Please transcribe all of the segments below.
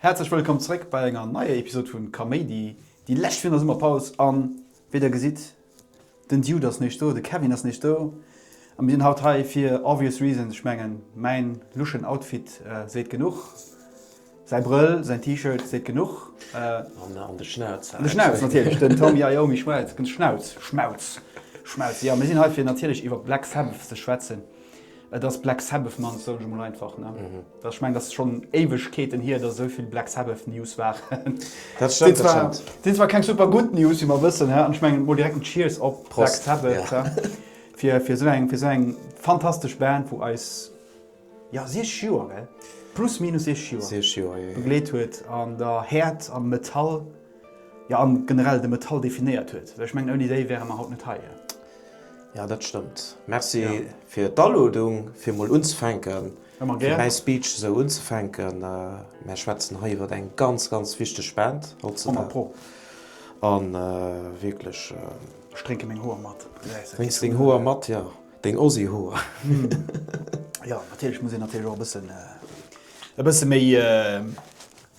Häerzlech wëllkomm zréck bei enger neier Episode vun Kaméidi, déi lescht virun der Summerpaus an wéi der gesitt, Den Dude ass neesch do, de Kevin ass neesch do a mir sinn haut hei fir obvious reasons. Ech mengen, mäin luschen Outfit seet genuch, säi Brëll, säin T-Shirt seet genuch. An de Schnauz. An de Schnauz natierlech, den Tommy Iommi Schmelz, den Schnauz, Schmauz, Schmelz. Jo, mir sinn hei fir natierlech iwwer Black Sabbath ze schwätzen. Et ass Black Sabbath Month, soen ech emol einfach, ne? Ech mengen, dat ass schonn Éiwegkeeten hier, datt esou vill Black Sabbath News waren. Dat stëmmt, dat stëmmt. Sinn zwar keng super gutt News, wéi mer wëssen, an ech mengen, mol direkt en Cheers op Black Sabbath. Prost, ja. Fir esou eng, fir esou eng fantastesch Band, wou eis, jo, 60 Joer, gell? Plus minus 60 Joer. 60 Joer, jo, jo. Begleet huet an der Häert, am Metall. Jo, an generell de Metall definéiert huet. Ech mengen, ouni déi wäre mer haut net hei. Jo, dat stëmmt. Merci fir d'Alodung, fir mol unzefänken, fir mäi Speech esou unzefänken. Mär schwätzen hei iwwer eng ganz, ganz wichteg Band hautzedag. A wierklech. Ech drénke meng Hoer mat. Drénks deng Hoer mat, jo. Deng Ozzy-Hoer. Jo, natierlech muss een natierlech och e bëssen, e bësse méi.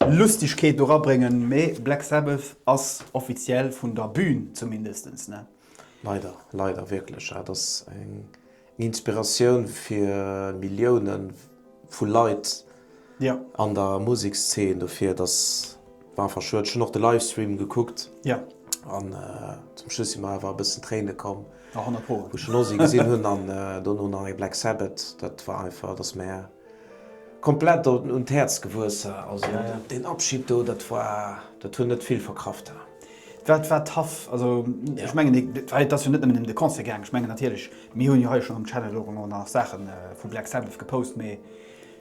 Lustigkeet do rabréngen, mee Black Sabbath ass offiziell vun der Bühn zumindestens, ne? Leider, leider wierklech, ja. Et ass eng Inspiratioun fir Millioune vu Leit an der Musekszeen, dofir dass, war einfach schued. Ech hunn och de Livestream gekuckt an zum Schluss si mer awer e bëssen d'Tréine komm, wou ech den Ozzy gesinn hunn an dono nach e Black Sabbath. Dat war einfach, et ass mär. Komplett doten un d'Häerz gewuesse, also deen Abschid do, dat war, dat hunn net vill verkraft ha. Wat war tough, also ech mengen et war, et ass jo net nëmmen em de Concert gaang, ech mengen natierlech, mir hunn jo hei schonn um Channel och ëmmer nach Saache vu Black Sabbath gepost, mee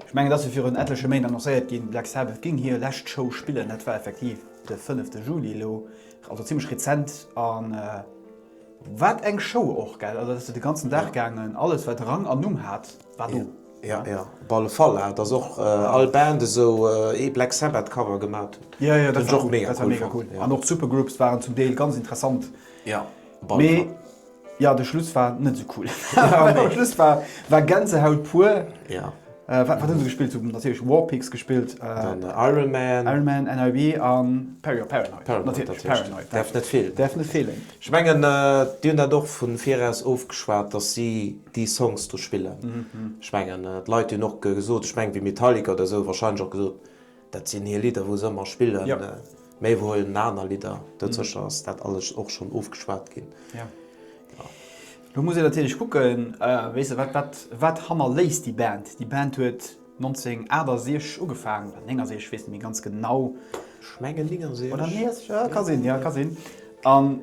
ech mengen et ass jo virun etleche Méint annoncéiert ginn, Black Sabbath géing hir lescht Show spillen, dat war effektiv de fënnefte Juli elo, also zimmlech rezent, an. Wat eng Show och, gell? Also dat ass jo de ganzen Dag gaangen, alles wat Rang an Numm hat war do. Ja, ja, op alle Fall hat ass och all Band esou ee Black Sabbath Cover gemat huet. Jo, jo, dat war cool, dat war mega cool an och d'Supergroups waren zum Deel ganz interessant. Ja, op alle Fall. Mee jo, de Schluss war net esou cool. Am Schluss war Gänsehaut pur. Jo. Wat hunn se gespillt? Si hunn natierlech War Pigs gespillt. Dann Iron Man. Iron Man, NIB an Perry, jo Paranoid. Paranoid natierlech, däerf net feelen. Däerf net feelen. Ech mengen, déi hunn dat och vun viraus ofgeschwat, dass si déi Songs do spillen. Ech mengen, d'Leit hunn och gesot, ech mengen, wéi Metallica oder esou, warscheinlech och gesot, Dat sinn hir Lidder wou se ëmmer spillen. Mee wou ëmmer aner Lidder, dat sécher ass dat alles och schonn ofgeschwat ginn. Lo muss een natierlech kucken, wéi se wat wat wat hannerléisst déi Band. Déi Band huet 1968 ugefaangen, oder 69, ech weess net méi ganz genau. Ech mengen 69. Oder 69, jo ka sinn, jo ka sinn. An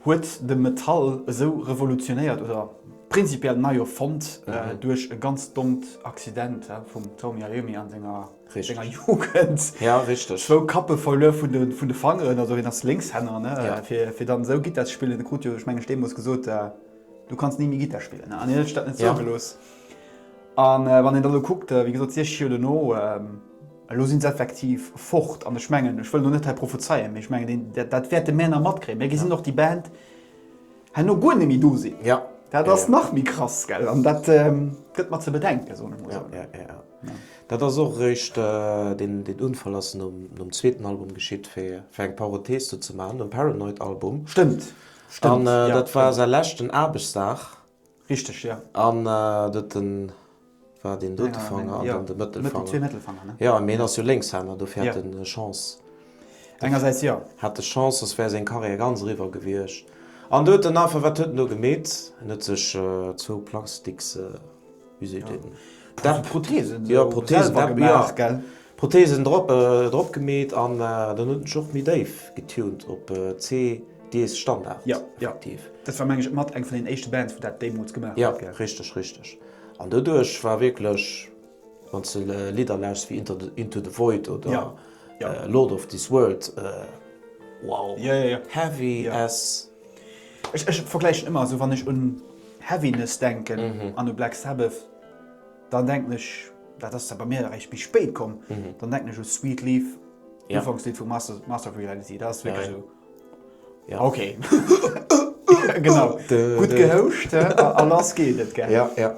huet de Metall esou revolutionéiert oder prinzipiell nei erfonnt duerch e ganz dommt Accident vum Tony Iommi a senger. Richteg. Senger Jugend. Ja, richteg. Zwou Kappe verluer vun de Fangeren, also hien ass Lénkshänner, ne, fir dann esou Gittar ze spillen. E krut jo, ech mengen, ech deemools gesot, Du kanns ni méi Gittar spillen, ne, an hien huet sech dat net zougelooss. A wann een dann elo kuckt, wéi gesot, 60 Joer dono, elo si se effektiv fort. An ech mengen, ech wëll elo net hei prophezeien, mee ech mengen, dat wäerte mär nach matkréien. Mir gesinn och déi Band herno guer net méi do sinn. Dat ass nach méi krass, gell, an dat gëtt mat ze bedenken, soen ech mol esou. Dat ass och eréischt, deen Unfall ass nom zweeten Album geschitt, fir eng Parenthese do ze maachen, nom Paranoid Album. Stëmmt, stëmmt, jo. An dat war säi leschten Aarbechtsdag. Richteg, jo. An dote war deen dote Fanger an dann de Mëttelfanger. Zwee Mëttelfanger, ne? Jo, mee hien ass jo Lénkshänner, dofir hat en Chance. Engersäits jo. Hat e Chance, soss wär seng Karriär ganz eriwwer gewiescht. An doten einfach, wat huet en do gemeet? En huet sech zwou Plastiksfläschen wéi seet een, Dach, Prothesen, jo, Prothesen, selwer gemaach, gell? Prothesen drop, drop gemeet an dann huet en sech och méi déif getunt op CD-Standard. Jo, jo, dat war meng ech mat eng vun den éischte Bands, wou dat deemools gemaach huet, gell? Jo, richteg, richteg. An doduerch war wierklech, wann s de Lidder lauschters wéi Inter, Into the Void oder Lord of this World, wow, heavy as. Ech vergläichen ëmmer, esou wann ech un Heaviness denken an u Black Sabbath, dann denken ech, dat ass da bei mir eréischt méi spéit komm, dann denken ech u Sweet Leaf, d'Ufankslidd vu Master of Reality, dat ass wierklech esou. Ok. Genau, gutt gehouscht a lass geet et, gell. Jo, jo.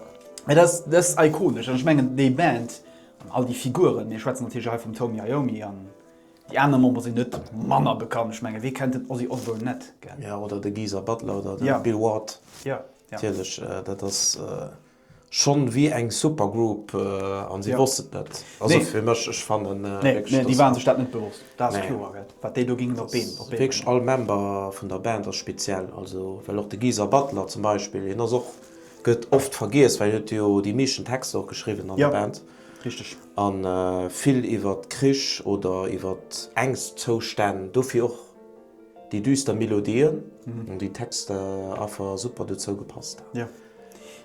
Mä dat ass ikonesch an ech mengen, déi Band an all déi Figuren, mir schwätzen natierlech hei vum Tony Iommi an Déi aner Member sinn net manner bekannt, ech mengen, wee kennt den Ozzy Osbourne net, gell? Jo, oder de Geezer Butler oder de Bill Ward. Jo, jo. Natierlech, dat ass schonn wéi eng Supergroup an si wosst et net. Also fir mech, ech fannen wierklech, dass. Nee, déi waren sech dat net bewosst, dat ass kloer, gell, wat déi do gingen op d'Been bréngen. Wierklech all Member vun der Band ass speziell, also well och de Geezer Butler zum Beispill, hien ass och, gëtt oft vergiess, well hien huet jo déi meeschten Texter och geschriwwen an der Band. Richteg. A vill iwwer Krich oder iwwer Ängstzou-stänn. Dofir och déi düster Melodien an déi Texter affer super dozou gepasst. Jo,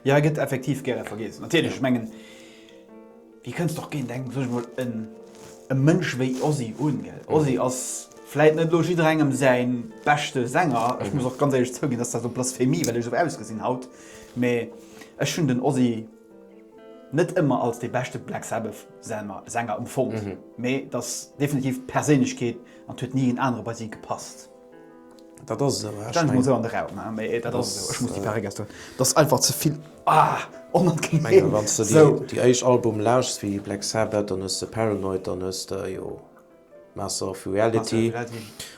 jo e gëtt effektiv gäre vergiess. Natierlech, ech mengen, wéi kënnst och géint eng, sot ech mol, e Mënsch wéi Ozzy un, gell? Ozzy ass vläit net elo jidderengem säi beschte Sänger. Ech muss och ganz éierlech zouginn, dass dat elo Blasphemie, well ech esou ausgesinn haut. Mee ech hunn den Ozzy. Net ëmmer als dee beschte Black Sabbath Sänger emfonnt, mee et ass definitiv d'Perséinlechkeet an et huet ni een anere bei si gepasst. Dat ass esou, ech stelle mech mol sou an de Raum, mee dat ass esou, ech muss déi Perréck aus do, dat ass einfach ze vill onangeneem. Ech menge wann s de déi déi éischt Album lauschs vii Black Sabbath, dann hues de Paranoid, dann hues de jo Master of Reality,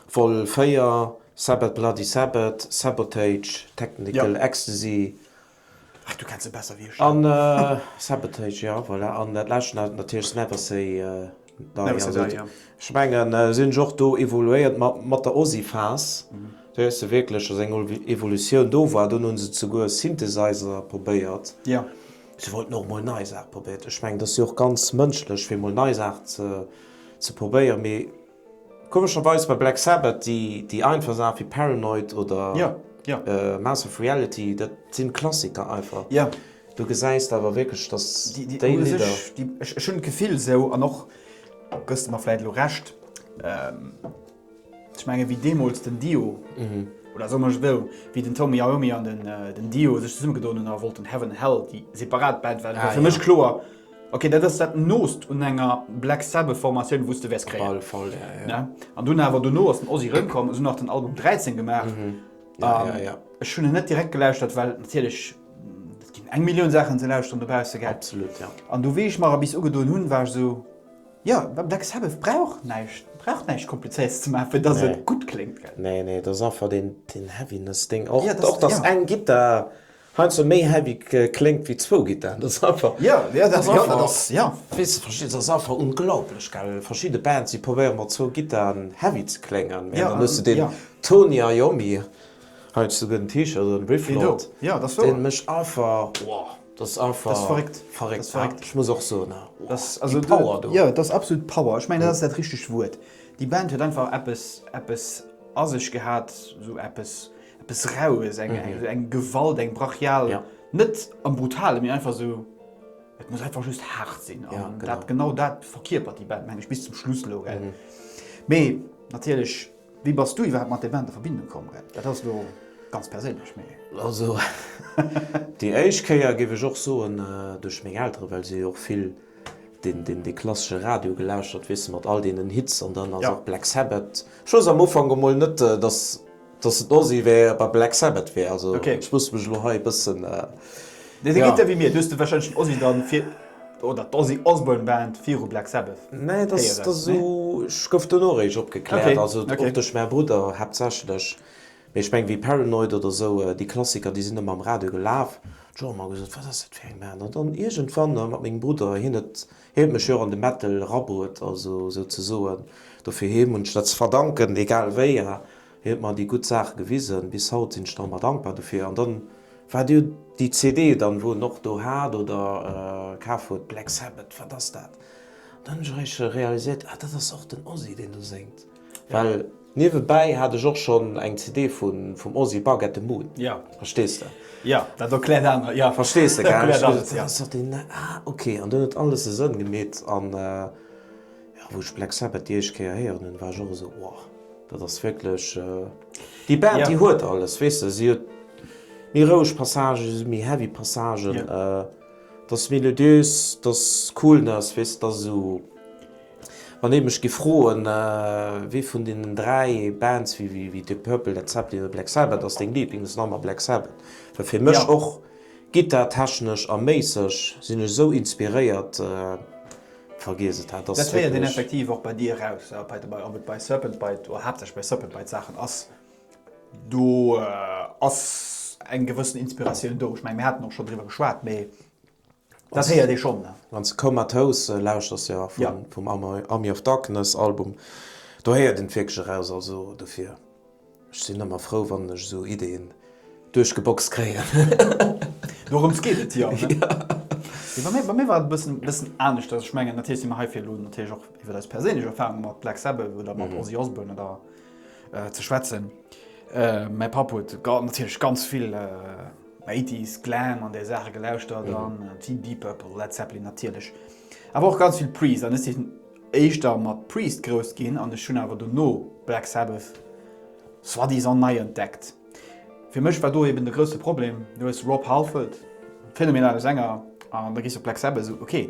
Vol. 4, Sabbath Bloody Sabbath, Sabotage, Technical Ecstasy. Ach, du kenns se besser wéi ech. An Sabotage, jo, voilà. An dat lescht ass natierlech Never Say Die. Never Say Die, jo. Ech mengen, si hunn sech och do evoluéiert mat der Ozi-Phase. Do hues de wierklech, datt eng Evolutioun do war. Dunn hu se souguer Synthesizer probéiert. Jo. Si wollten och mol nei Saache probéiert. Ech mengen, et ass jo och ganz mënschlech, fir mol nei Saachen ze probéieren. Mee Komescherweis bei Black Sabbath déi déi einfach Saachen wéi Paranoid oder Mass of Reality, dat sinn Klassiker einfach. Do gesäis de awer wierklech dass déi Lidder. Ech hunn d'Gefill esou, an och gëss de mer vläit elo Recht, ech mengen wéi deemools den Dio, oder soe mer esou, wéi den Tony Iommi an den Dio sech zesummegedoen hunn a wollten Heaven Hell déi separat Band waren, war fir mech kloer, Ok dat ass dat noost un enger Black Sabbath Formatioun wous de wärs kréien. Op alle Fall ja, ja. Ne? An dunn awer dono ass den Ozzy rëmkomm, esou nach den Album 13 gemaach. Mhm. Ja, um, ja, ja. Ech hunn en net direkt gelauschtert, well natierlech et ginn eng Millioun Saachen ze lauschteren dobausse gell. Absolut ja. An du wéi ech mer erbis ugedoen hunn, war ech esou, jo Black Sabbath brauch näischt, brauch näischt komplizéiertes ze maachen fir dass nee. et gutt kléngt gell. Nee nee, et ass einfach deen deen Heaviness Ding och, ja, och dass ja. eng Gittar Hei ass e méi heavy kléngt wéi zwou Gittaren, dat ass einfach. Jo, jo dat ass einfach. Weess verstees ass einfach unglaublich gell, verschidde Bands déi probéieren mat zwou Gittaren heavy ze kléngen mee dann hues de den Tony Iommi, hei hues de sogar den T-Shirt an, Riff Lord, deen mécht einfach, wow, dat ass einfach verréckt haart, ech muss och soen, wow, déi Power do. Jo, dat ass absolut Power, ech mengen dat ass dat richtegt Wuert, déi Band huet einfach eppes, eppes a sech gehat, esou eppes. Eppes Raues, eng eng eng Gewalt, eng brachial, net am Brutalen, mee einfach esou, et muss einfach just haart sinn. An dat genau dat verkierpert déi Band, meng ech, bis zum Schluss elo, gell. Mee natierlech, wéi bass du iwwerhaapt mat där Band a Verbindung komm, gell? Dat ass elo ganz perséinlech, mee. Also déi éischt Kéier, géif ech och soen, duerch meng Elteren, well si hu jo och vill deen deen dee klassesche Radio gelauschtert, weess de, mat all deenen Hits. An dann ass och Black Sabbath, ech wousst am Ufank emol net, datt. Dass et Ozzy wär bei Black Sabbath wär also ech muss mech elo hei e bëssen Nee dee geet jo wéi mir, du hues de wahrscheinlech den Ozzy dann fir oder d'Ozzy Osbourne Band viru Black Sabbath Nee dass dass esou ech gouf dono eréischt opgekläert also och duerch mäi Brudder haaptsächlech mee ech meng wéi Paranoid oder esou déi Klassiker déi sinn ëmmer am Radio gelaf hu ech och ëmmer gesot wat ass dat fir eng Band an dann iergendwann mat mengem Brudder hien huet Hien huet mech jo och an de Metal erabruet, also souzesoen dofir him hunn ech dat ze verdanken. Egal wéi, hien huet mer déi gutt Saach gewisen, bis haut sinn ech nach ëmmer dankbar dofir. An dann waart dir déi CD dann, wou en och do hat oder kaf huet, Black Sabbath, wat ass dat? An dann hunn ech eréischt realiséiert, ah dat ass och den Ozzy deen do séngt. Well niewebäi hat ech och schonn eng CD vum Ozzy, Bark at the Moon. Jo. Verstees de? Jo, dat erkläert aner, jo. Verstees de, gell? Erkläert alles, jo. Sot een, Ah, ok. An dunn huet alles e Sënn gemeet. An jo, wou ech Black Sabbath déi éischt Kéier héieren hunn, war ech och esou, Wow, dat ass wierklech déi Band, déi huet alles, weess de. Si huet méi roueg Passagen, si huet méi heavy Passagen. Dat ass melodiös, dat ass cool, dat ass, weess de, dat ass esou. Wann ee mech giff froen wéi vun deenen 3 Bands wéi Deep Purple, Led Zeppelin oder Black Sabbath ass deng Liiblings, ass normal Black Sabbath. Well fir mech och gittartechnesch a méisseg sinn ech esou inspiréiert, vergiess et, dat ass Dat héiert een effektiv och bei dir eraus, ob et bei Serpent Bite oder haaptsächlech bei Serpent Bite d'Saachen ass, do ass eng gewëssen Inspiratioun do. Ech menge mir haten och schonn driwwer geschwat, mee Dat héiert ee schonn. Wann s de Comatose lauschers, jo, vum Army of Darkness Album, do héiert een et wierklech eraus. Also dofir, ech sinn ëmmer frou, wann ech esou Ideeën duerchgeboxt kréien. Dorëms geet et jo, ne? Jo. Bei mir war et e bëssen, bëssen aneschters. Ech mengen, natierlech si mer hei, fir elo natierlech och iwwer eis perséinlech Erfarunge mat Black Sabbath oder mat Ozzy Osbourne oder ze schwätzen. Mäi Papp huet natierlech ganz vill. 80s Glam an där Saache gelauschtert an vill Deep Purple, Led Zeppelin natierlech, awer och ganz vill Priest an ech sinn éischter mat Priest grouss ginn an ech hunn awer dono Black Sabbath soi-disant nei entdeckt. Fir mech war do eben de grousse Problem, du hues Rob Halford, phänomenale Sänger, an da gees du op Black Sabbath, esou ok.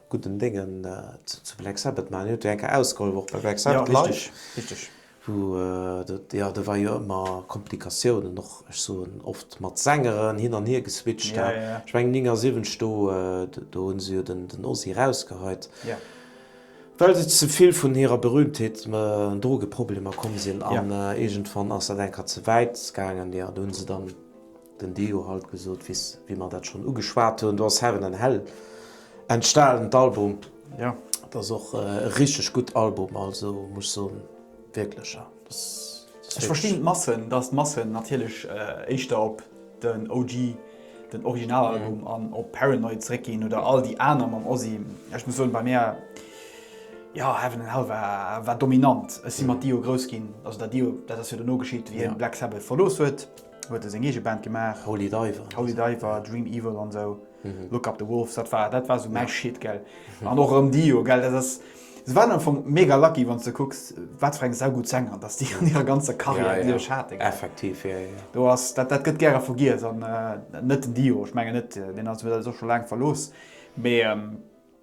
gudden Déngen zu Black Sabbath maachen. Dir hutt jo eng Kéier ausgehollef och bei Black Sabbath live, wou dat, jo, do war jo ëmmer Komplikatiounen och, ech soen oft mat Sängeren hin an hier geswitcht hat. Ech mengen 79 do, do hu se jo den Ozzy erausgeheit, well se ze vill vun hirer Berühmtheet, Drogeproblemer komm sinn an iergendwann ass dat eng Kéier ze wäit gaangen, jo, do hu se dann. Den Deo halt gesoot wiss wéi mer dat schon ugeschwaat hun, do ass Heaven and Hell entstaan, d'Album, dat ass och e richteg gudd Album, also muss soen wierklech ja dass ass. Ech verstinn d'Massen, dass d'Massen natierlech éischter op den OG, den Originalalbum an op Paranoid zréck ginn oder all déi aner mam Ozzy. Ech muss soen bei mär, jo Heaven and Hell war dominant, ech si mat Dio grouss ginn, also dat Dio dat ass jo dono geschitt wéi hien Black Sabbath verlooss huet. huet e seng eege Band gemaach. Holy Diver. Holy Diver, Dream Evil an esou. Mhm. Look Up The Wolves, dat war, dat war esou mäi Shit, gell. Mhm. An och erëm Dio, gell, dat ass, se waren am Anfang mega lucky, wann s de kucks, wat fir eng saugutt Sänger, datt déi an hirer ganzer Karriär, déi se sech haten, gell. Effektiv, jo, jo. Do ass, dat, dat gëtt gäre vergiess an net den Dio, ech mengen net, deen ass, huet eis och scho laang verlooss, mee.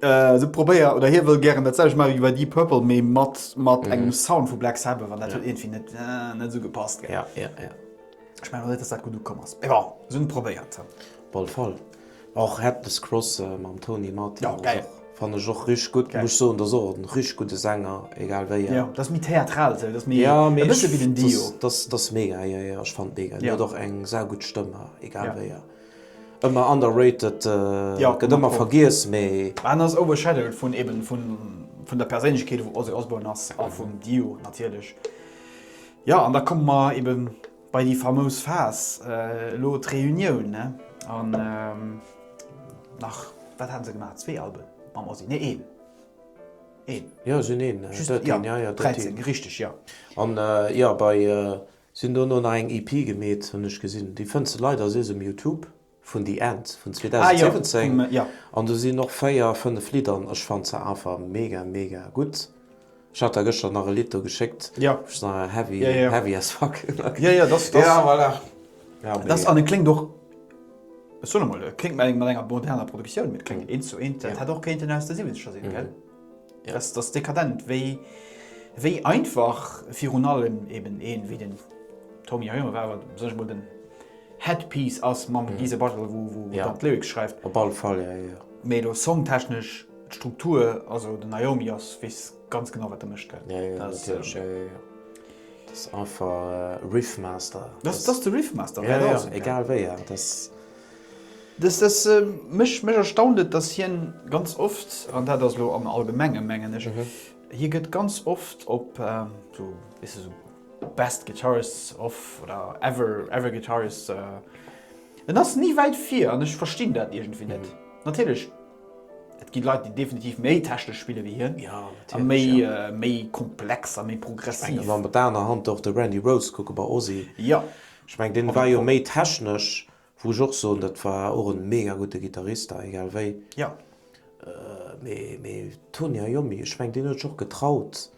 Se probéier oder hie wëll gären dat selwech maache wéi bei Deep Purple, mee mat, mat engem Sound vu Black Sabbath an dat huet iergendwéi net, net esou gepasst, gell. Ja, ja, ja. Ech mengen och net, datt dat gutt ukomm ass. Mee bon, se hunn et probéiert. Op alle Fall. Och Headless Cross mam Tony Martin. Jo, gäil. Fannen ech och richteg gutt. Muss soen, dat ass och en richteg gudde Sänger, egal wéi en. Jo, dat ass méi theatral esou, dat ass méi, e bësse wéi den Dio. Dat ass, dat ass mega, jo, jo, ech fannen et mega. Hien huet och eng saugutt Stëmm, egal wéi en. Ëmmer underrated, gëtt ëmmer vergiess, mee. En ass overshadowed vun eben vun der Perséinlechkeet wou Ozzy Osbourne ass a vum Dio natierlech. Jo an da komme mer eben bei déi famous Phas, elo d'Reunioun ne an nach wat haten se gemaach? Zwee Alben mam Ozzy? Nee een, een. Jo sinn een, just een, jo jo dat een. 13 richteg jo. An jo bei Sin dono nach eng EP gemeet hun ech gesin, déi fënns de leider as um Youtube, vun The End vun 2017 an do sin och 4, 5 Lidder an ech fannt se einfach mega mega gudd. Ech hat der gëschter nach e Lidd do geschéckt, wou's nach heavy heavy as fuck as an et kléngt och, ech soen emol, et kléngt mer mat enger moderner Produktioun, et kléngt eens zu eens, dat hätt och kéinten aus de 70er sin gell? Der Rest ass dekadent, wéi wéi einfach virun allem eben een wéi den Tony Iommi, war wat sech mol den Headpiece ass mam Geezer Butler, wou wou Ja. dann d'Lyrics schreift. Op alle Fall, ja, ja. Mee elo songtechnesch, d'Struktur, also den Iommi ass weess ganz genau wat de mécht, gell. Ja, ja, Dat ass, natierlech, ja, ja, ja. Dat ass einfach Riffmaster. Dat ass de Riffmaster, Ja, well ja, alles, gell. egal wéi, ja, dat ass. Mech erstaunt et, dass hien ganz oft, an dat ass elo am Allgemenge mengen ech, hie gëtt ganz oft op esou, weess de, sou best guitarists of oder ever, ever guitarists, en ass ni wäit vir an ech verstinn dat iergendwéi net. Natierlech, et gi Leit, déi definitiv méi technesch spille wéi hien a méi, méi komplex a méi progressiv. Mä op der anerer Hand, och de Randy Rhoads, kucke bei Ozzy. Ech mengen deen war jo méi technesch, wou ech och soen, dat war och en mega gudde Gitarrist da egal wéi. Mee Tony Iommi, ech mengen deen huet sech och getraut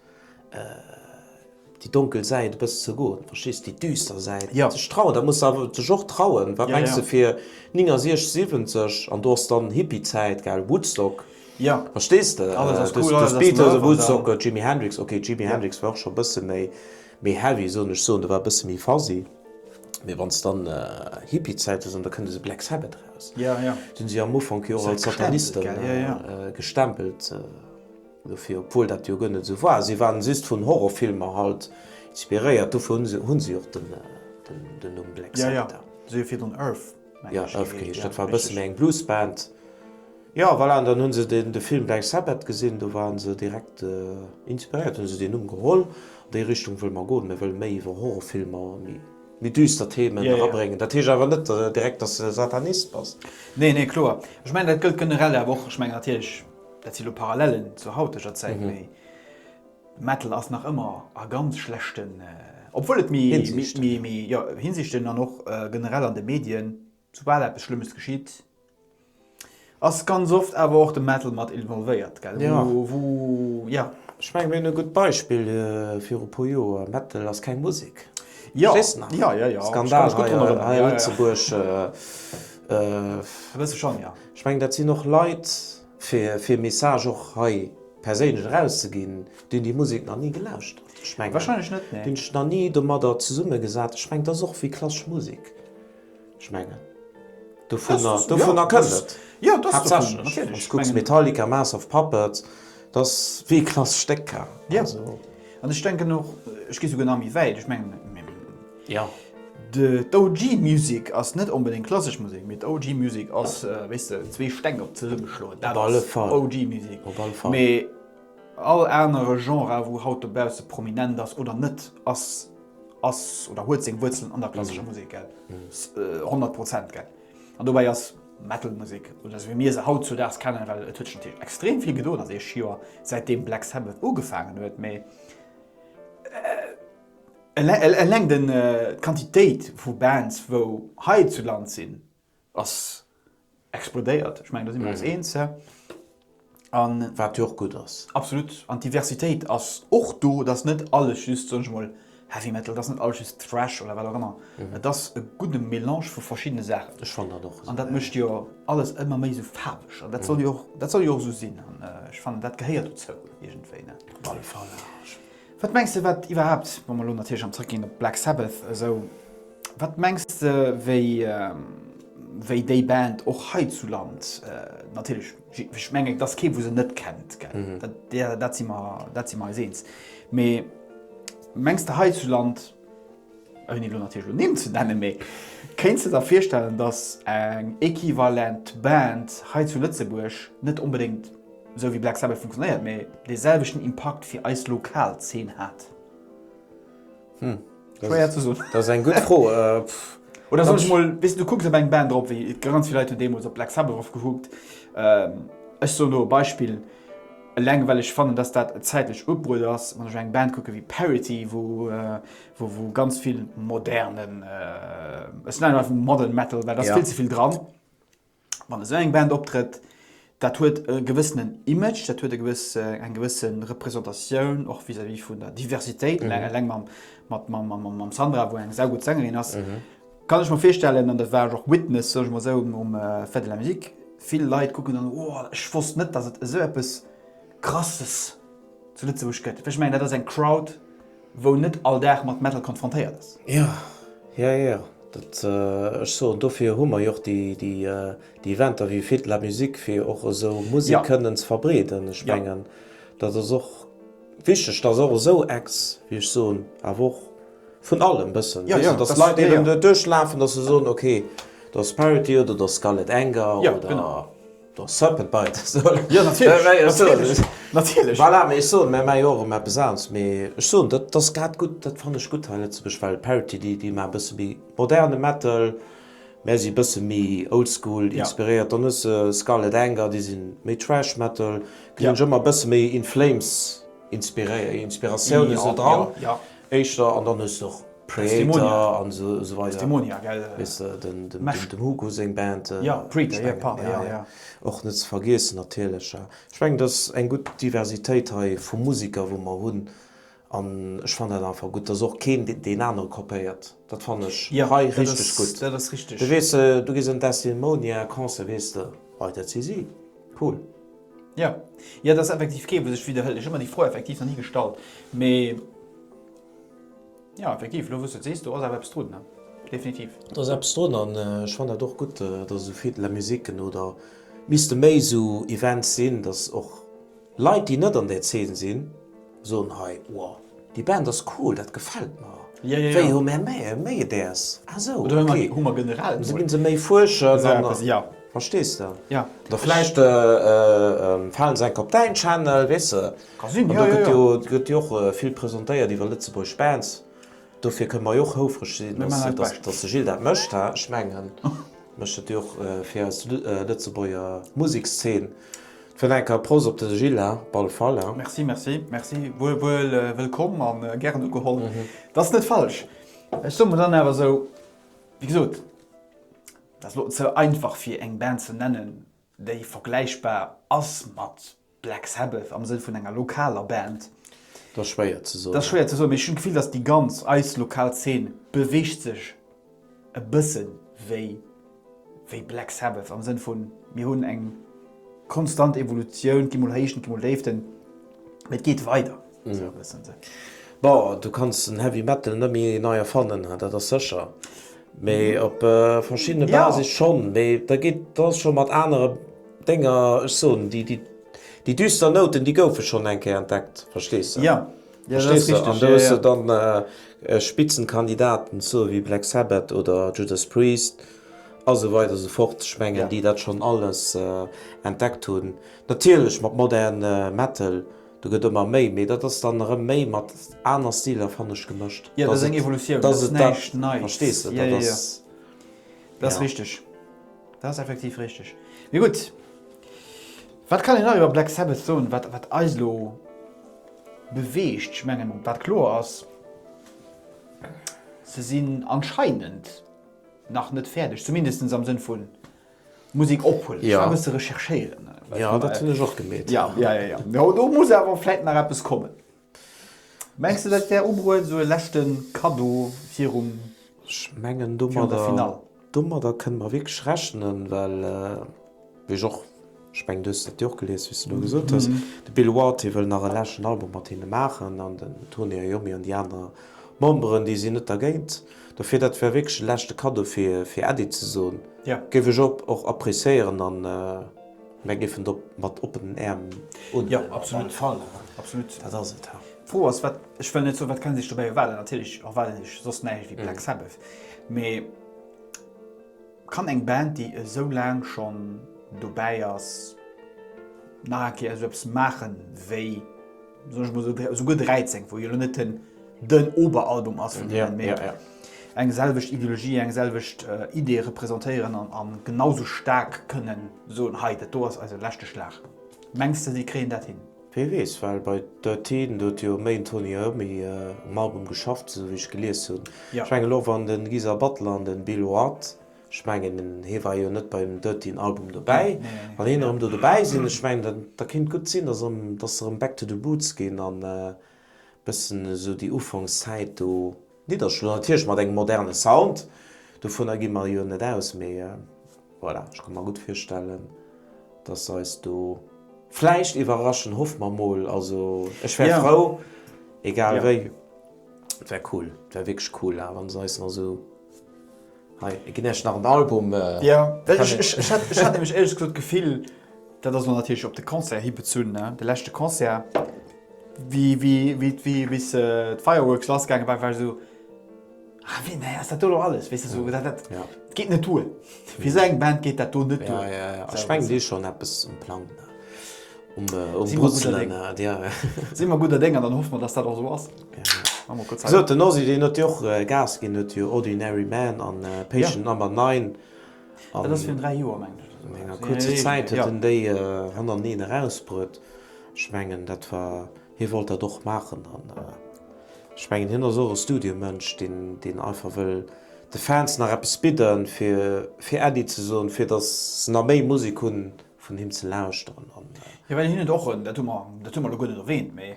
déi donkel Säit e bëssen ze goen, verstees déi düster Säit sech trauen. Dat muss awer sech och trauen. Wat mengs de fir 69, 70 an do ass dann Hippie Zäit gell, Woodstock, verstees de, Beatles, Woodstock, Jimi Hendrix, ok Jimi Hendrix war och scho e bësse méi, Méi heavy soen ech soen, do war e bësse méi fuzzy, mee wann s dann Hippiezäite soen, da kënnt esou Black Sabbath eraus. Déi hunn sech am Ufank jo och als Sataniste gestempelt dofir, obwuel dat jo guer net esou war. Si waren just vun Horrorfilmer halt inspiréiert, dofir hunn si och den Numm Black Sabbath. Jo, Elf geheescht. Dat war e bësse méi eng Bluesband. Jo, voilà, an dann hu se de Film Black Sabbath gesinn, do ware se direkt inspiréiert, hu se deen Numm geholl. An déi Richtung wëlle mer goen. Mir wëlle méi iwwer Horrorfilmer, méi düster Themen erabréngen. Dat heescht awer net direkt, dass de Satanist bass. Nee, nee, kloer. Ech mengen, dat gëllt generell awer och. Ech mengen natierlech, dat si lo Parallellen zur hauteger Zäit, mee. De Metal ass nach ëmmer a ganz schlechten, obwuel et méi, méi, jo, Hinsichten an och generell an de Medien, soubal eppes Schlëmmes geschitt, ass ganz oft awer och de Metal mat involvéiert, gell, wou, jo. Ech mengen, mir hunn e gutt Beispill viru puer Joer, Metal ass keng Musek, verstees de nach? Jo, jo, jo. Skandal hei a Lëtzebuerg. E bësse schonn, jo. Ech mengen, dat sinn och Leit. Fir e Message och hei perséinlech erauszeginn, deen déi Musek nach ni gelauscht hat, ech mengen. Wahrscheinlech net, nee. Deen sech nach ni domadder zesummegesat, ech mengen, dat ass och wéi klassesch Musek, ech mengen, dovunner, dovunner kënnt et. Jo, dat ass dovun, natierlech. Haaptsächlech, wann s de kucks, Metallica, Mass of Puppets, dat ass wéi e klassesch Stéck, also. Jo, an ech denken och, ech gi souguer nach méi wäit, ech mengen, Jo. D'OG Music ass net onbedéngt klassesch Musek, mee d'OG Music ass, wéisst de, zwee Steng op zesummeschloen, dat ass OG Music. Op alle Fall. Mee all anere Genre, wou haut dobausse prominent ass oder net, ass, ass oder huet seng Wuerzelen an der klassescher Musek, gell? Honnert Prozent, gell? An dobäi ass Metal Musek, oder esou wéi mir se hautzudaags kennen, well et huet sech natierlech extrem vill gedoen an deeg Joer, säitdeem Black Sabbath ugefaangen huet, mee, Eleng d'Quantitéit vu Bands, wou hei zu Land sinn, ass explodéiert. Ech mengen, do si mer eis eens, hä? Wat jo och gutt ass. Absolut. An d'Diversitéit ass och do. Et ass net alles just, soen ech emol, Heavy Metal, et ass net alles just Thrash oder wat och ëmmer. Et ass e gudde Mélange vu verschiddene Saachen. Ech fannen dat och esou. An dat mécht jo alles ëmmer méi esou faarweg. An dat soll jo och esou sinn. An ech fannen, dat gehéiert dozou iergendwéi, ne? Op alle Fall. Wat mengs de wat iwwerhaapt, wa mer elo natierlech am zrëckginn op Black Sabbath esou, wat mengs de wéi wéi déi Band och hei zu Land, natierlech ech mengen et ass kee wou se net kennt gell, dat si mer dat si mer eis eens, mee mengs de hei zu Land, ouni elo natierlech elo Nimm ze nennen, mee kéints de der virstellen, datt eng equivalent Band hei zu Lëtzebuerg net onbedéngt esou wéi Black Sabbath funktionéiert, mee dee selwechten Impakt fir eis lokal Zeen hat? Schwéier ze soen. Dat ass eng gutt Fro. Oder soll ech emol, weess de, du kucks op eng Band erop, wéi ganz vill Leit hunn deemools op Black Sabbath erop gekuckt, ech soen elo e Beispill, Eleng well ech fannen, dass dat zäitlech ubruet ass, wann ech eng Band kucke wéi Parity, wou ganz vill modernen, ech nennen einfach modern metal, well da ass vill ze vill dran, wann esou eng Band optrëtt, dat huet e gewëssenen Image, dat huet e gewësse, eng gewësse Repräsentatioun och vis-à-vis vun der Diversitéit, eleng mam Sandra, wou eng saugutt Sängerin ass. Kann ech mer virstellen, an dat war ech och Witness, soe ech mol esou, um Fête de la Musique, vill Leit kucken dann, oh ech wosst net, datt et esou eppes Krasses zu Lëtzebuerg gëtt. Well ech mengen, dat ass eng Crowd, wou net all Dag mat Metal konfrontéiert ass. Jo, jo, jo, dat, ech soen, dofir hu mer jo och déi Eventer wéi Fête de la Musique, fir och esou Musek kënnen ze verbreeden. Ech mengen, dat ass och Wichteg, dass och esou Ex, wéi ech soen, awer och vun allem bëssen, weess de, dass Leit eben net duerchlafen, dass se soen, ok, da Sparity oder da Scarlet Anger oder da Serpent Bite, voilà, mee ech soen, mir maache jo och erëm eppes anes. Mee ech soen, dat ass grad gutt, dat fannen ech gutt hei Lëtzebuerg, well Parity, déi maache e bësse méi moderne Metal, Mä si bësse méi oldschool inspiréiert. Dann hues de Scarlet Anger, déi si méi Thrash Metal. Gleewen ech ëmmer bësse méi In Flames Inspiratioune sinn dran éischter. An dann hues de och Kreator an esou weider, weess de, dem Hugo seng Band och net ze vergiessen natierlech. Ech mengen et ass eng gutt Diversitéit hei vu Musiker wou mer hunn. An ech fannen dat einfach gutt, dass och keen deen anere kopéiert. Dat fannen ech richteg gutt. Dat ass richteg. Du weess, du gees en Destilmonia Concert, weess de, hei dat si si. Cool. Jo, jo, dat ass effektiv kee wou sech widderhëlt. Ech hu mer déi Fro effektiv nach ni gestallt, mee jo, effektiv, elo wou s du et sees, do ass awer eppes drun, definitiv. Do ass eppes drun an ech fannen dat och gutt, dass esou vill de la musique oder misste méi esou Events sinn, dass och, Leit déi net an där Zeen sinn soen hei, wow déi Band ass cool, dat gefällt mer. Wéi hu mär méi däers? Ah sou, okay. An sou ginn se méi fuerschen an verstees de? Oder vläicht falen se enk op däin Channel, weess de? An do gëtt jo och vill presentéiert iwwer Lëtzebuerg Bands. Dofir kënne mer jo och houfreg sinn, dass de Gilles dat mécht. Ech mengen, et mécht et jo och fir eis Lëtzebuerger Musekszeen. Fir nach eng Kéier Prost op de Gilles Balfalla! Merci, merci, merci. Wuel, wuel wëllkomm a gären ugeholl. Dat ass net falsch. Ech soe mer dann awer esou, wéi gesot, dat ass elo ze einfach fir eng Band ze nennen. déi vergläichbar ass mat Black Sabbath am Sënn vun enger lokaler Band. Dat ass schwéier ze soen. Dat ass schwéier ze soen, mee ech hunn d'Gefill, datt déi ganz, eis lokal Zeen beweegt sech e bësse wéi, wéi Black Sabbath am Sënn vu mir hunn eng konstant Evolutioun, et gi mol Héichten, et gi mol Déiften, mee et geet weider. Bon, du kanns den Heavy Metal net méi nei erfannen, dat ass sécher, mee op verschiddene Basis schonn. Mee da geet, da ass scho mat anere Dénger, ech soen, déi düster Nouten, déi goufe schonn eng Kéier entdeckt, verstees de? Jo, jo, dat ass richteg. An do hues de dann Spitzenkandidaten, sou wéi Black Sabbath oder Judas Priest a sou weider a sou fort, ech mengen, déi dat schonn alles entdeckt hunn. Natierlech mat moderne Metal. Do gëtt ëmmer méi, mee dat ass dann erëm méi mat aner Stiler, fannen ech, gemëscht. Jo, dat ass eng Evolutioun, dat ass näischt Neits. Verstees de? Dat ass. Dat ass richteg. Dat ass effektiv richteg. Mee gutt, wat kann een nach iwwer Black Sabbath soen, wat eis elo beweegt? Ech mengen, wat kloer ass, se sinn anscheinend nach net fäerdeg, zumindest am Sënn vun, Musik ophuelen. Ech war e bësse recherchéieren. Jo, dat hunn ech och gemeet. Jo, jo, jo. Jo, do muss awer vläit nach eppes kommen. Mengs de, dat wär ubruecht, esou e leschte Kaddo virum Finale? Ech mengen, domadder kënne mer wierklech rechnen, well, wéi ech och, ech mengen, du hues dat jo och gelies, wéi s de elo gesot hues, de Bill Ward wëll nach e leschten Album mat hinne maachen an den Tony Iommi an déi aner Memberen, déi sinn net dergéint. Dofir, dat wär wierklech e leschte Cadeau fir Äddi ze soen, géif ech och appréciéieren a mir géifen et och mat oppenen Äerm unhuelen. Op alle Fall, absolut. Dat ass et. D'Fro ass, wat, ech wëll net soen, wat kenne sech dobäi erwaarden. Natierlech erwaarden sech soss näischt wéi Black Sabbath, mee kann eng Band, déi esou laang schonn dobäi ass, nach eng Kéier esou eppes maachen wéi. soen ech mol esou, esouguer 13, wou jo elo net den den Oberalbum ass vun hinnen, mee eng selwecht Ideologie, eng selwecht Idee representéieren an an genau sou staark kënnen soen, hei dat do ass eise leschte Schlag. Mengs de si kréien dat hin? Wee weess, well bei Dirteen, do huet jo méi den Tony Iommi um Album geschafft, esou wéi ech gelies hunn. Ech mengen elo wann de Geezer Butler an de Bill Ward Ech mengen, hie war jo net beim Dirtyn Album dobäi. Wann hien erëm do dobäi sinn, ech mengen, da kéint gutt sinn, datt erëm, datt se erëm back to the boots ginn an e bëssen esou déi Ufankszäit do nidderschloen. Natierlech mat engem moderne Sound, dovunner gi mer jo net aus, mee voilà, ech ka mer gutt virstellen, datt se eis do vläicht iwwerraschen. Hoffe mer mol. Also ech wär frou, egal wéi. Et wär cool, et wär wierklech cool, wa se eis nach esou Hei gin ech nach en Album. Jo, ech hat nämlech éierlech gesot d'Gefill, dat ass elo natierlech op de Concert hi bezunn, de leschte Concert, wéi bis d'Fireworks lass gaange war, war esou, Ah wéi, nee, ass dat do elo alles? Weess de, sou, dat geet net duer. Fir esou eng Band geet dat do net duer. Jo, jo, ech mengen, déi hu schonn eppes um Plang. Sinn mer gudder Dénger, dann hoffe mer, datt dat och esou ass. Gesot den Ozzy deen huet jo och Gas ginn, huet jo Ordinary Man an Patient Number Nine an enger kuerzer Zäit huet en déi hannerteneen erausbruet. Ech mengen dat war, hie wollt dat och maachen an ech mengen hien ass och e Studiomënsch deen deen einfach wëll de Fans nach eppes bidden fir fir Äddi ze soen, fir datt se nach méi Musek hu vun him ze lauschteren an. Jo well hien huet och en, dat hu mer dat hu mer elo guer net erwähnt, mee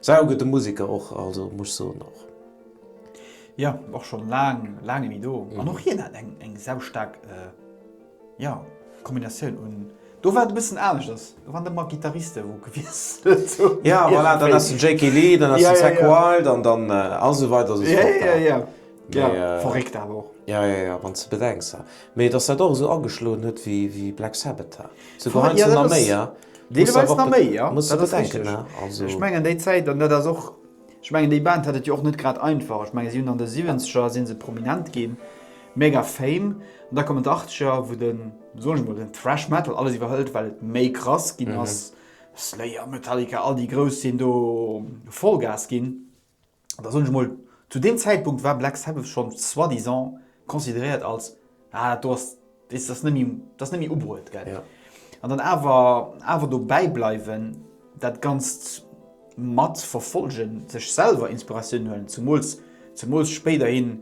Sau gudde Musiker och, also muss soen och. Jo och schon laang laang nimi do an och hien hat eng eng sau staark jo Kombinatioun un do war et e bëssen aneschters do waren der mer Guitaristen wou gewiesselt hun jo voilà dann ass den Jake Lee dann ass den Zakk Wylde an dann ass esou weider esou fort jo jo jo. Ja, verréckt awer och. Ja, ja, ja, wann s de bedenks, ha. Mee dass dat och esou ageschloen huet wéi Black Sabbath, ha. Souguer heiansdo nach méi, ha. Deeleweis nach méi, ja. Muss awer denken, ha. Also. Ech mengen déi Zäit, an dat ass och, ech mengen déi Band hat et jo och net grad einfach. Ech mengen si hunn an de Siwwenzeger si se prominent ginn, mega Fame. An da kommen d'Achtzeger, wou den, soen ech mol, den Thrash Metal alles iwwerhëlt, well et méi krass ginn ass. Slayer, Metallica, all déi Grouss sinn do Vollgas ginn. Da soen ech mol, zu deem Zäitpunkt war Black Sabbath schonn soi-disant consideréiert als, ah dat do ass, weess de, dat ass net méi ubruet, gell. An dann awer, awer dobäi bleiwen, dat Ganzt mat verfollegen, sech selwer Inspiratioun huelen, zemools, zemools spéiderhin,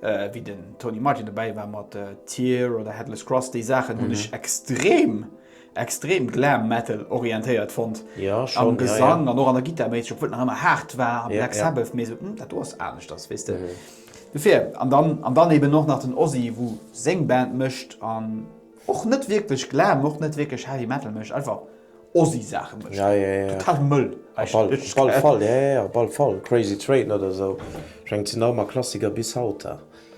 wéi den Tony Martin dobäi war mat Tyr oder Headless Cross, déi Saachen hunn ech extrem extrem Glam Metal orientéiert fonnt am Gesang an och an der Gittar méisseg, obwuel et nach ëmmer haart war a Black Sabbath, mee esou dat do ass aneschters, weess de. Dofir, an dann an dann eben och nach den Ozzy, wou seng Band mécht an och net wierklech Glam, och net wierklech Heavy Metal mécht, einfach Ozzy Saache mécht, total mëll eigentlech. Op alle Fall, jo jo, op alle Fall, Crazy Train oder esou schéngt sinn nach ëmmer Klassiker bis haut.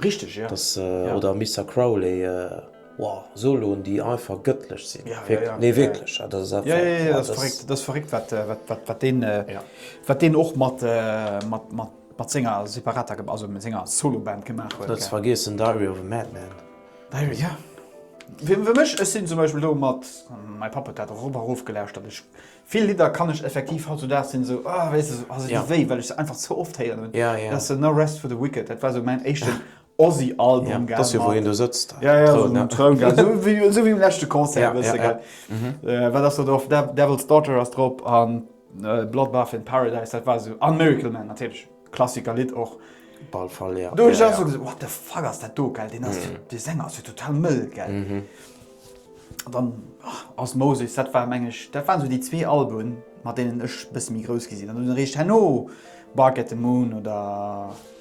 Richteg, jo. Oder Mister Crowley. Wow, Soloen déi einfach gëttlech sinn. Nee wierklech, dat ass einfach. Jo, jo, dat ass verréckt, wat deen, wat deen och mat mat senger separater, also mat senger Soloband gemaach huet. Net ze vergiessen Diary of a Madman. Diary, jo. Fir mech, ech sinn zum Beispill do mat, mäi Papp huet dat och erof a rof gelauschtert, ech, vill Lidder kann ech effektiv hautzudaags sinn esou, ah wéi se, ah se di wéi, well ech se einfach ze oft héieren hunn. Dat ass No Rest for the Wicked, dat war esou mäin éischten. Ozzy Album gell. Dass jo wou hien do sëtzt. Ja ja esou um Troun gell. Esou wéi esou wéi um leschte Concert bësse gell. Wat ass do drop? Devil's Daughter ass drop an Bloodbath in Paradise dat war esou an Miracle Man natierlech Klassiker Lidd och. Op all Fall jo. Do hunn ech och esou gesot what the fuck ass dat do gell. Deen ass dee Sänger ass jo total mëll gell. An dann Osmosis dat war meng ech dat waren esou déi zwee Alben mat deenen ech e bësse méi grouss gi sinn. An dann eréischt herno Bark at the Moon oder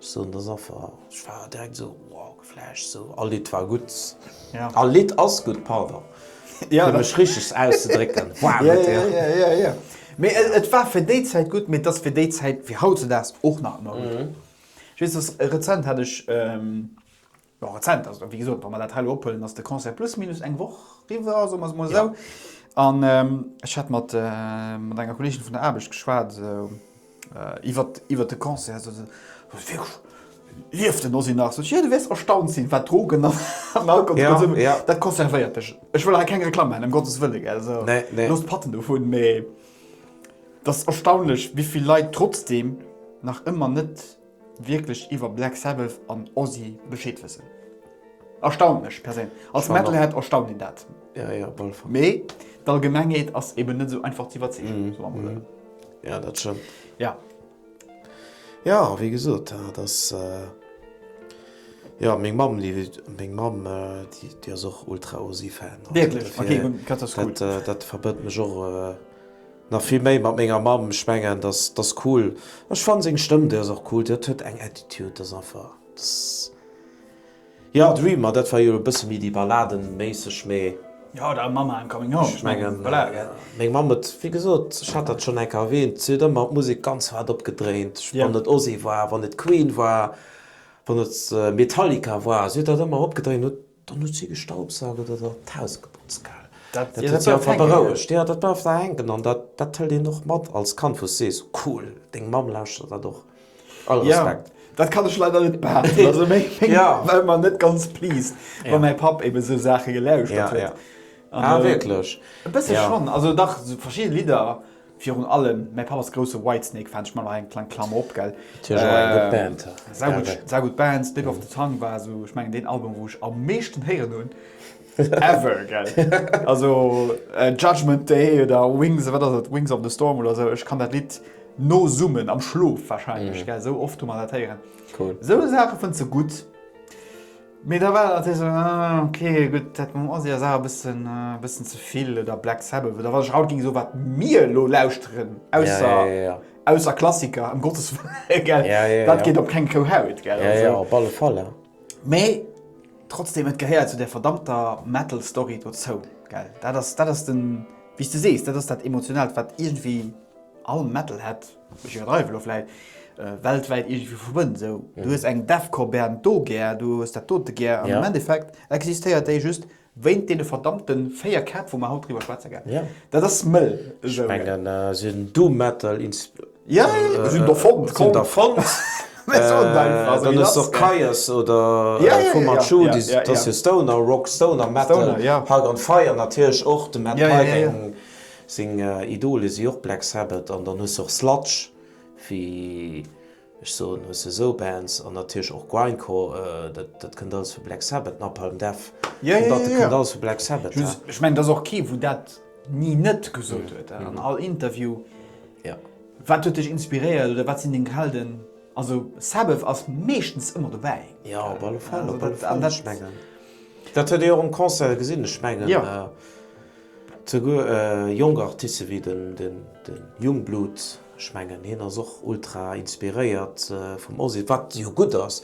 Sou an der Safa, ech war direkt sou wow geflasht sou, all Lidd war gudd, all Lidd ass gudd, pardon fir mech richteg auszedrécken, wow gëtt Dir. Jo jo jo jo, mee et war fir déi Zäit gudd, mee et ass fir déi Zäit, fir hautzedaags och nach ëmmer gudd. Ech weess, rezent hat ech Jo, rezent, also wéi gesot, wa mer dat hei elo ophuelen, ass de Concert plus minus eng Woch riwwer, soe mer et emol esou. An ech hat mat enger Kolleegin vun der Aarbecht geschwat iwwer de Concert. Sot se, Wat, wierklech, lieft den Ozzy nach? Sot ech, Jo, du wäers erstaunt sinn, wat Drogen an Alkohol de Konsum, dat konservéiert dech. Ech wëll hei keng Reklamm maachen, ëm Gottes Wëlle, gell, esou, loosst d'Patten dovun, mee et ass erstaunlech, wéi vill Leit trotzdeem nach ëmmer net wierklech iwwer Black Sabbath an Ozzy Bescheed wëssen. Erstaunt mech perséinlech. Als Metalhead erstaunt een dat. Ja, ja, op alle Fall. Mee d'Allgemengheet ass eben net esou einfach ze iwwerzeegen, soe mer mol esou. Ja, dat stëmmt. Ja. Ja, wéi gesot, dat ass. Jo, meng Mamm, déi huet, meng Mamm, déi, déi ass och Ultra-Ozzy-Fan. Wierklech? Ok, dann, dat ass cool. Dat, dat verbënnt mech och. Nach vill méi mat menger Mamm, ech mengen dass dass cool, ech fannen seng Stëmm déi ass och cool, dat huet eng Attitude, dass einfach dass jo Dream ma dat war jo e bësse méi déi Balladenméisseg, mee. Jo da Mamma I'm Coming Home, ech mengen meng Mamm huet wéi gesot, ech hat dat schonn eng Kéier erwähnt, si huet ëmmer d'Musek ganz haart opgedréint, wann et Ozzy war, wann et Queen war, wann et Metallica war, si huet dat ëmmer opgedréint, huet Dann huet si gestaubsaugert oder d'Haus geputzt gell? Dat huet si einfach berouegt. Jo, dat bleift da hänken an dat hëlt een och mat als Kand, wou s sees, cool, deng Mamm lauschtert dat och. All Respekt. Jo, dat kann ech leider net behaapten. Also meng Mamm war ëmmer net ganz pleased, wa mäi Papp eben esou Saache gelauschtert huet. Ah wierklech? E bësse schonn. Also dach, verschidde Lidder Virun allem mäi Papp ass grousse Whitesnake Fan, ech man nach eng kleng Klammer op, gell. Natierlech och eng gutt Band, ja. Sau gutt, sau gutt Band. Slip of the Tongue war esou, ech mengen, deen Album, wou ech am meeschten héieren hunn ever, gell. Also Judgement Day oder Wings, wat ass et, Wings of the Storm oder esou, ech kann dat Lidd nosummen am Schlof warscheinlech, gell, esou oft hu mer dat héieren. Cool. Esou Saache fënns de gutt. Mee da war dat natierlech esou, ah ok, gutt, dat mam Ozzy ass awer e bëssen ze vill, oder Black Sabbath, oder wann ech haut géing soen, wat mir elo lauschteren, ausser Klassiker, ëm Gottes Wëllen, gell, dat geet op keng rou Haut, gell. Jo, jo, op alle Fall, jo. Mee trotzdeem, et gehéiert zu där verdammter Metal-Story dozou, gell. Dat ass, dat ass den, wéi s de sees, dat ass dat Emotionaalt, wat iergendwéi all Metalhead. Ech iwwerdreiwen elo vläit. Weltwäit iergendwéi verbënnt. Esou, du hues eng Defcor-Band do gär, du hues dat dote gär. An am Endeffekt existéiert déi just wéint deene verdammte véier Käpp, wou mer haut driwwer schwätze gär. Dat ass mëll esou. Ech mengen, se hunn Doom Metal erfonnt. Dann hues de och Kyuss oder Fu Manchu, dat ass jo Stoner Rock, Stoner Metal. Hagr and Fire natierlech och, de Matt Pike, Seng Idole si och Black Sabbath an dann hues de och Sludge, wéi ech soen, hues de esou Bands an natierlech och Grindcore, dat dat kënnt alles vu Black Sabbath, Napalm Death, dat kënnt alles vu Black Sabbath. Ech mengen et ass och kee wou dat ni net gesot huet an all Interview. Wat huet dech inspiréiert oder wat sinn deng Helden? Also Sabbath ass meeschtens ëmmer dobäi. Jo, op alle Fall, op alle Fall. Ech mengen dat huet ee jo och um Concert gesinn, ech mengen. Souguer jonk Artiste wéi den Yungblud, ech mengen hien ass och ultra inspiréiert vum Ozzy, wat jo gutt ass,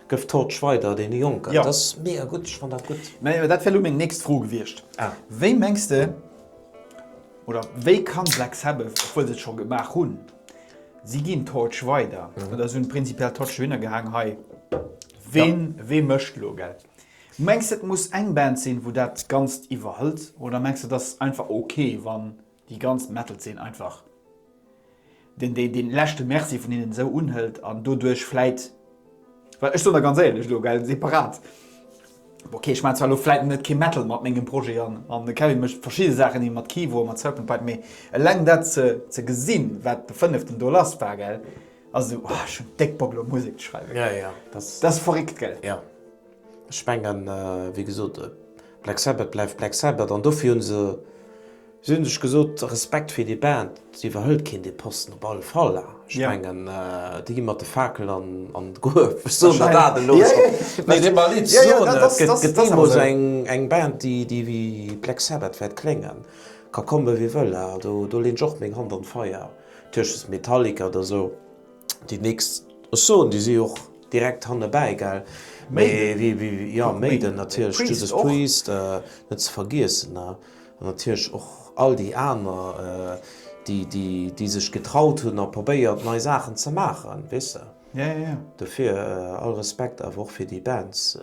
gëff Torch weider deene Jonken. Dat ass mega gutt, ech fannen dat gutt. Mä dat wär elo meng nächst Fro gewiescht. Wéi mengs de, oder wéi kann Black Sabbath, obwuel se et scho gemaach hunn, si ginn Torch weider, oder si hunn prinzipiell d'Torch dohinner gehaang, hei, wee mécht elo, gell? Mengs de et muss eng Band sinn wou dat ganzt iwwerhëlt oder mengs de et ass einfach ok wann déi ganz Metalzeen einfach den den den leschte Merci vun hinnen esou unhëlt an doduerch vläit well ech soen der ganz éierlech elo gell separat bon ok ech maan zwar elo vläit net kee Metal mat mengem Projet an an de Kevin mécht verschidde Saachen ni mat Kivo a mat Serpent Pipe mee eleng dat ze ze gesinn wat de fënneften do lass war gell ass esou oh ech hunn déck Bock elo Musek ze schreiwen dat ass verréckt gell. Ech mengen, wéi gesot, Black Sabbath bleift Black Sabbath an dofir hu se, si hunn sech gesot, Respekt fir déi Band, se iwwerhëlt keen dee Posten, op alle Fall. Ech mengen, déi gi mat de Fakel an d'Gruef, ech soen der dat elo. Mee dee Malice soen et, et gëtt deemools eng Band, déi wéi Black Sabbath wäert kléngen, ka komme wie wëll, do leeën ech och meng Hand an d'Feier, Tëschent Metallica oder esou. Déi nächst, ech soen, déi si jo och direkt hannebäi, gell? Mee wéi, wéi, jo, Maiden natierlech, Judas Priest net ze vergiessen, ne? An natierlech och all déi aner, déi, déi, déi sech getraut hunn a probéiert nei Saachen ze maachen, weess de? Dofir all Respekt awer och fir déi Bands.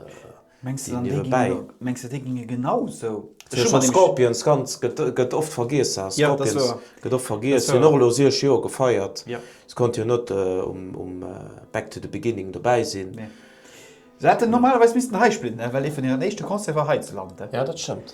Mengs de dann déi ginn elo, mengs de déi ginge genau esou? Ech hu mer nämlech. Scorpions ganz gëtt oft vergiess ha. Jo dat ass woer. Scorpions gëtt oft vergiess, hunn och elo 6 Joer gefeiert. Jo. Se konnte jo net um Back to the Beginning dobäi sinn. Nee. Se hätten normalerweis missten hei spillen, well ee vun hiren éischte Concerte war hei zu Land. Jo dat stëmmt.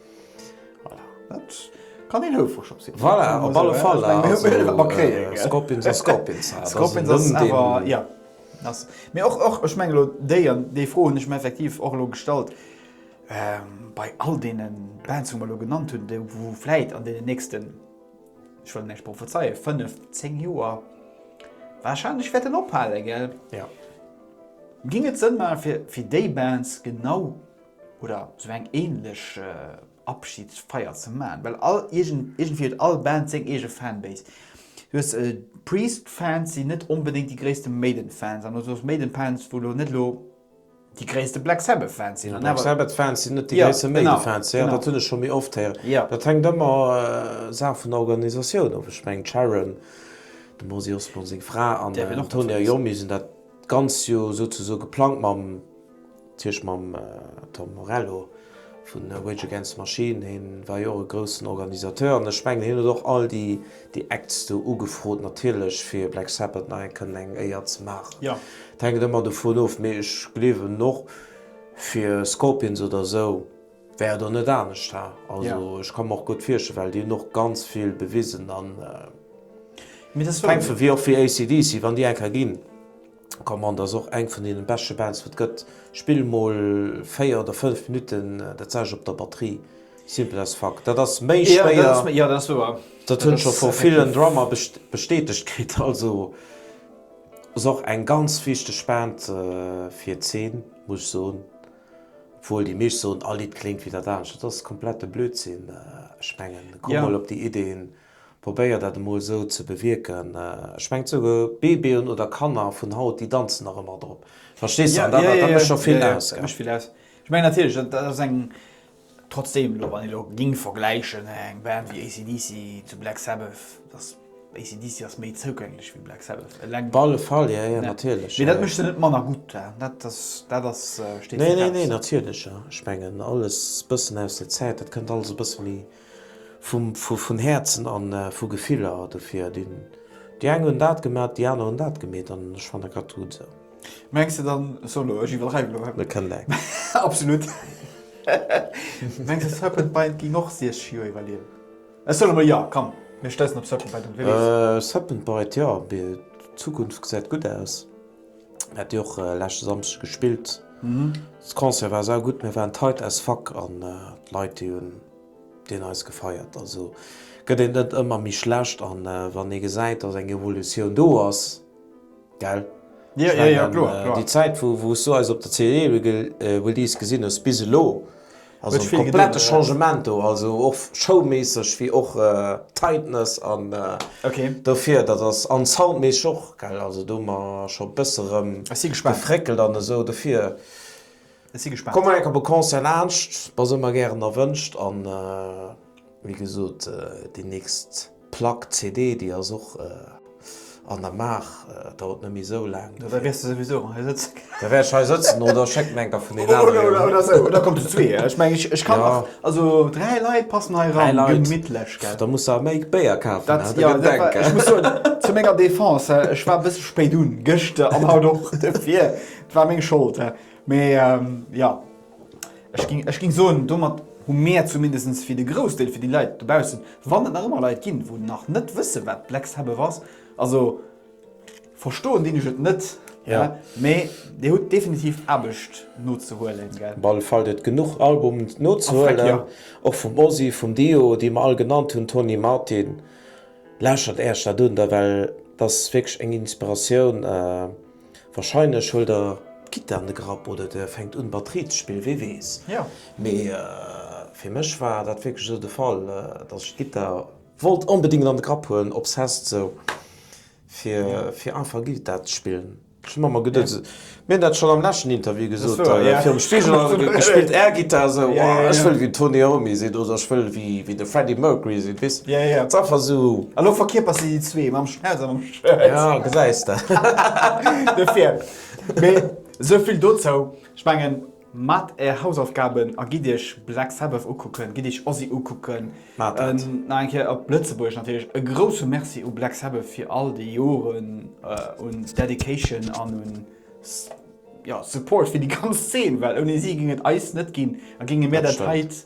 Kann een houfreg op sinn. Voilà, op alle Fall, Scorpions ass Scorpions. Mee och, och, ech mengen elo déi, an déi Fro hunn ech mer effektiv och elo gestallt, bei all deene Bands, wou mer elo genannt hunn, déi wou vläit an deenen nächsten, ech wëll näischt prophezeien, fënnef, zéng Joer warscheinlech wäerten ophalen, ginn et Sënn maachen, fir déi Bands genau oder sou eng ähnlech Abschiedsfeier ze man, well all iergendwéi huet all Band seng eege Fanbase. Du hues Priest Fans si net onbedéngt déi gréissten Maiden Fans an du hues Maiden Fans wou lo net lo déi gréissten Black Sabbath Fans sinn an awer. Black Sabbath Fans sinn net déi gréissten Maiden Fans, jo dat hunn ech scho méi oft héieren. Dat hänkt ëmmer Saach vun der Organisatioun of. Ech mengen d'Sharon, dem Ozzy Osbourne seng Fra, an den Tony Iommi hunn dat ganz jo souzesoe geplangt mam Tierch mam Tom Morello vu Rage Against the Machine, hien war jo och e groussen Organisateur an ech mengen hien huet och all déi Acts do ugefrot natierlech fir Black Sabbath nach eng kënnen eng Éier ze maachen. Et hänkt ëmmer dovun of, mee ech gleewen och fir Scorpions oder esou wär et och net anescht ha. Also ech ka mer och gutt virstellen, well déi hunn och ganz vill bewisen an et hänkt vu wéi och fir AC/DC wann déi eng ka ginn. Command ass och eng vun deenen beschte Bands wat gëtt. Spill mol 4 oder 5 Minutten dat selwescht op der Batterie. Simple as fuck. Dat ass méi schwéier. Jo dat ass wouer. Dat hunn ech scho vu villen Drummer bestätegt kritt. Also ass och eng ganz wichteg Band fir d'Zeen muss ech soen. Obwuel déi meescht soen all Lidd kléngt wéi dat anescht. Dat ass komplette Blödsinn. Ech mengen komm mol op déi Ideen. Probéier dat emol esou ze bewierken. Ech mengen souguer Babyen oder Kanner vun haut, déi danzen nach ëmmer drop. Verstees de? An dat dat mécht scho vill aus, gell? Mécht vill aus. Ech mengen natierlech, dat ass eng, trotzdem elo, wann ee elo géing vergläichen, eng Band wéi AC/DC zu Black Sabbath, dass AC/DC ass méi zougänglech wéi Black Sabbath. Eleng. Op alle Fall, jo, jo, natierlech. Mee dat mécht se net manner gutt. Dat ass, dat ass, steet fest. Nee, nee, nee, natierlech, jo. Ech mengen alles e bëssen aus der Zäit, dat kënnt alles e bësse méi. Vun Häerzen an vu Gefiller dofir. Déi eng hunn dat gemat, déi aner hunn dat gemeet an ech fannen grad d'Rut sou. Mengs de dann, solo, ech iwwerdreiwen elo, hä? Kënnt eng. Absolut. Mengs de Serpent Bite géing och 60 Joer iwwerliewen? Ech soen emol jo, komm, mir stoussen op Serpent Bite un, Willis. Serpent Bite, jo, d'Zukunft gesäit gutt aus. Mir hat jo och leschte Samschdeg gespillt. De Concert war sau gutt, mir waren tight as fuck an d'Leit déi hunn deen eis gefeiert. Also gëtt een net ëmmer méi schlecht an wann ee gesäit dass eng Evolutioun do ass, gell? Ech mengen déi Zäit wou s du eis op der CE Release gesinn hues bis elo. Also en komplette Changement do, also och showméisseg wéi och tightness an dofir dat ass, an soundméisseg och gell, also do hu mer scho bësse rëm gefréckelt an esou dofir komm mol enk op e Concert laanscht, mer si ëmmer gären erwënscht an. Wéi gesot, déi nächst Plack, CD, déi ass och an der Maach. Et dauert net méi esou laang. Da wäers de souwisou erëm hei sëtzen. Da wär ech hei sëtzen oder ech schécken eng der vun den aneren. Oder, oder esou. Oder kommt de zu zwee. Ech mengen, ech kann nach. Also dräi Leit passen hei eran. Dräi Leit. Gemittlech, gell? Da muss der méi Béier kafen. Dat, jo, dat war. Ech muss soen, zu menger Defense, ech war e bësse spéit un, gëschter an haut och. Dofir, et war meng Schold. Mee, jo. Ech ging, ech ging soen, domat hu mär zumindest fir de Groussdeel, fir déi Leit dobaussen, wann et nach ëmmer Leit ginn, wou nach net wësse wat d'Lex Heboeuf ass, also verstoen dinn ech et net, ja, mee Dir hutt definitiv Aarbecht nozehuelen, gell? Op alle Fall, et genuch Album nozehuelen, och vum Ozzy, vum Dio, déi mer all genannt hunn, Tony Martin. Lauschtert Äerch dat un da, well et ass wierklech eng Inspiratioun. Wahrscheinlech huelt der d'Gittar an de Grapp oder der fänkt un Batterie ze spillen, wee weess. Mee fir mech war dat wierklech esou de Fall, dass ech d'Gittar wollt onbedingt an de Grapp huelen, obsessed esou, fir einfach Gittar ze spillen. Ech hu mer emmer geduet, mir hunn dat schonn am leschten Interview gesot, virum Spigel a gespillt Airgittar esou, oh ech wëll wéi de Tony Iommi sinn oder ech wëll wéi de Freddie Mercury sinn, weess, ass einfach esou. A lo verkierpers de déi zwee mam Schnauz a mam. Ja, gesäis de. Dofir. Mee sou vill dozou. Ech mengen, maacht är Hausaufgaben a gitt iech Black Sabbath ukucken, gitt iech Ozzy ukucken. Maacht dat. Nach eng Kéier op Lëtzebuergesch natierlech e grousse Merci u Black Sabbath fir all déi Joren un Dedication an un, ja, Support fir déi ganz Zeen, well ouni si géing et eis net ginn a géinge mir Dat dat stemmt. heit,